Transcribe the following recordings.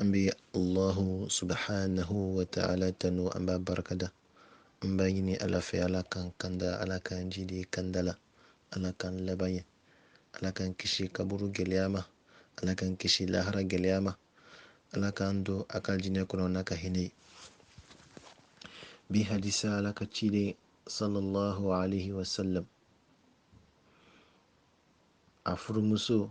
an bɛ allahu subhanahu wa ta'ala tanu an b'a barikada an b'a ɲini ala fɛ ala k'an kanda ala k'an jidi kanda la ala k'an laban ɲɛ ala k'an kisi kaburu gɛlɛya ma ala k'an kisi lahara gɛlɛya ma ala k'an don a ka aljinɛ kɔnɔ n'a ka hinɛ ye bi hadisa ala ka ciden sallallahu alaihi wasallam a furumuso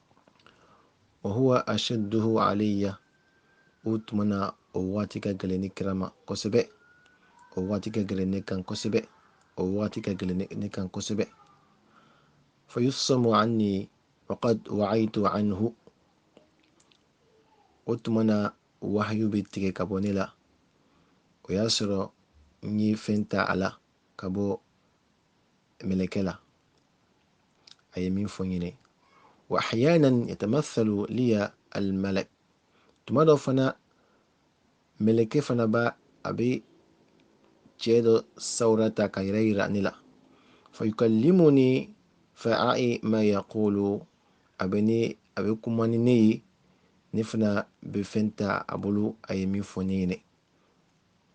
wa huwa ashadduhu alayya o tuma na o waati ka gɛlɛn ne kira ma kosɛbɛ o waati ka gɛlɛn ne kan kosɛbɛ o waati ka gɛlɛn ne kan kosɛbɛ fa yufsamu anni waqad wa'aytu anhu o tuma na wahyu bɛ tigɛ ka bɔ ne la o y'a sɔrɔ n ye fɛn ta a la ka bɔ mɛlɛkɛ la a ye min fɔ n ɲɛna wa ahyanan yatamathalu liya almalak tuma dɔ fana mɛlɛkɛ fana b'a a bɛ cɛ dɔ sawura ta k'a yɛrɛ yira ne la fa yukallimuni fa a'i ma yaqulu a bɛ ne a bɛ kuma ni ne ye ne fana bɛ fɛn ta a bolo a ye min fɔ ne ɲɛna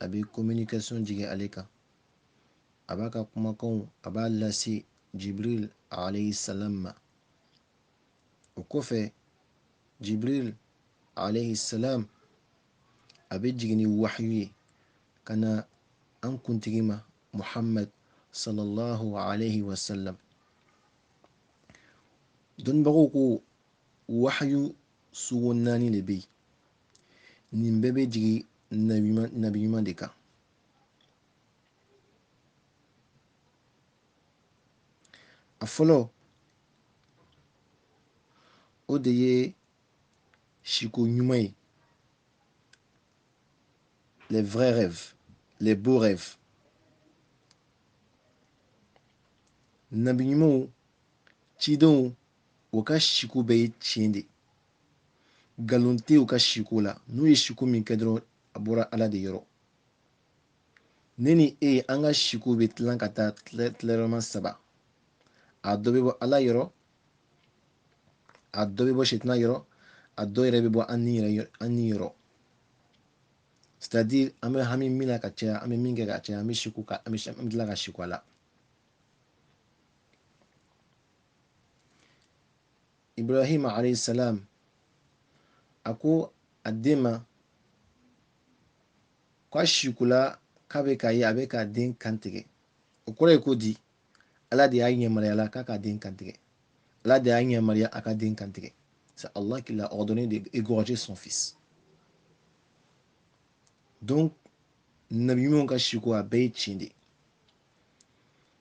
a bɛ communication jigin ale kan a b'a ka kumakanw a b'a lase jibril alayhi salam ma o kɔfɛ jibril alayhi salam a bɛ jigin ni wahyu ye ka na an kuntigi ma muhammad sallallahu alayhi wa sallam dɔnnibagaw ko wahyu sugu naani de bɛ yen nin bɛɛ bɛ jigin nabi ɲuman de kan a fɔlɔ o de ye siko ɲuman ye les vrais rêves les beaux rêves nabi ɲumanw cidenw o ka siko bɛɛ ye tiɲɛ de nkalon tɛ u ka siko la n'u ye siko min kɛ dɔrɔn a bɔra ala de yɔrɔ ne ni e an ka siko bɛ tilan ka taa tilayɔrɔma saba a dɔ bɛ bɔ ala yɔrɔ a dɔ bɛ bɔ sitanɛ yɔrɔ a dɔ yɛrɛ bɛ bɔ an ni yɛrɛ an ni yɔrɔ c'est-à-dire an bɛ hami min na ka caya an bɛ min kɛ ka caya an bɛ siko ka an bɛ an bɛ tila ka siko a la ibrahima alayhi salam a ko a den ma ko a siko la k'a bɛ k'a ye a bɛ k'a den kantigɛ o kɔrɔ ye ko di ala de y'a yamaruya la k'a k'a den kantigɛ ala de y'a yamaruya a k'a den kantigɛ c'est Allah qui l'a ordonné d'égorger son fils donc nabi ɲumanw ka siko a bɛɛ ye tiɲɛ de ye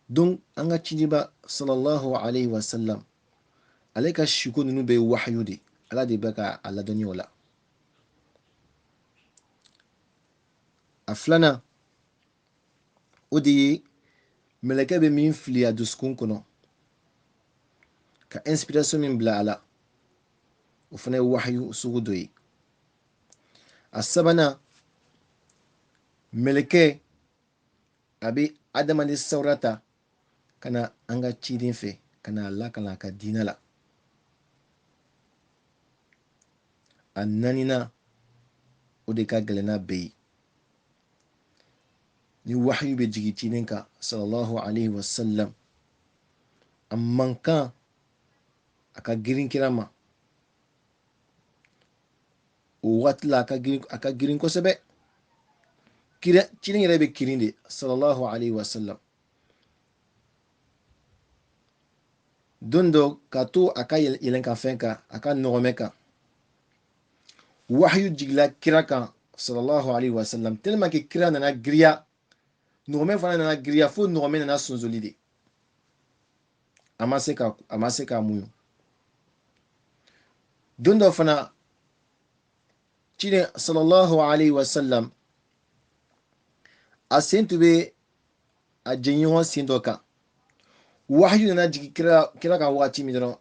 donc an ka cidiba sallallahu alayhi wa sallam ale ka siko ninnu bɛɛ ye wahayu de ala de bɛ ka a ladɔnniya o la a filanan o de ye mɛlɛkɛ bɛ min fili a dusukun kɔnɔ ka inspiration min bila a la o fana ye wahayu sugu dɔ ye a sabanan mɛlɛkɛ a bɛ adamaden sawura ta ka na an ka ciden fɛ ka na a lakalan a ka diinɛ la a naaninan o de ka gɛlɛn n'a bɛɛ ye ni wahayu bɛ jigin ciden kan sallallahu alaihi wasallam a mankan a ka girin kira ma o waati la a ka girin kosɛbɛ ciden yɛrɛ bɛ kirin de sallallahu alaihi wasallam don dɔ k'a to a ka yɛlɛnkanfɛn kan a ka nɔgɔmɛ kan wahayu jigila kira kan sallallahu alaihi wasallam tellement que kira nana giriya nɔgɔmɛ fana nana giriya fo nɔgɔmɛ nana sonsoli de a ma se ka a ma se k'a muɲu don dɔ fana ciden sallallahu alaihi wasallam a sen tun bɛ a jɛɲɔgɔn sen dɔ kan wahayu nana jigin kira kira kan waati min dɔrɔn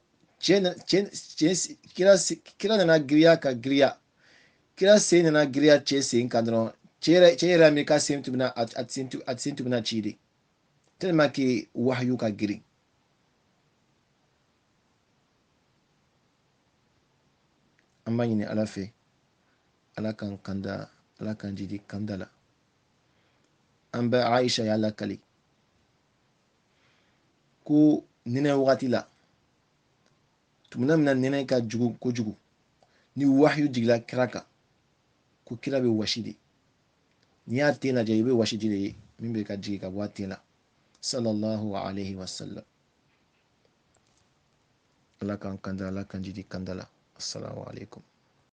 kira nana giriya ka giriya kira sen nana giriya cɛ sen kan dɔrɔn cɛ yɛrɛ cɛ yɛrɛ min ka sen tun bɛna a sen tun a sen tun bɛna ci de tellement que wahayu ka girin an b'a ɲini ala fɛ ala k'an kanda ala k'an jidi kanda la an ba aisha y'a lakali ko nɛnɛ wagati la tumana min na nɛnɛ ka jugu kojugu ni wahiyu jigila kira kan ko kira bɛ wasi de n'i y'a ten lajɛ i bɛ wasiji de ye min bɛ ka jigin ka bɔ a ten la sallallahu alaihi wasallam ala k'an kanda ala k'an jidi kanda la assalamu alaikum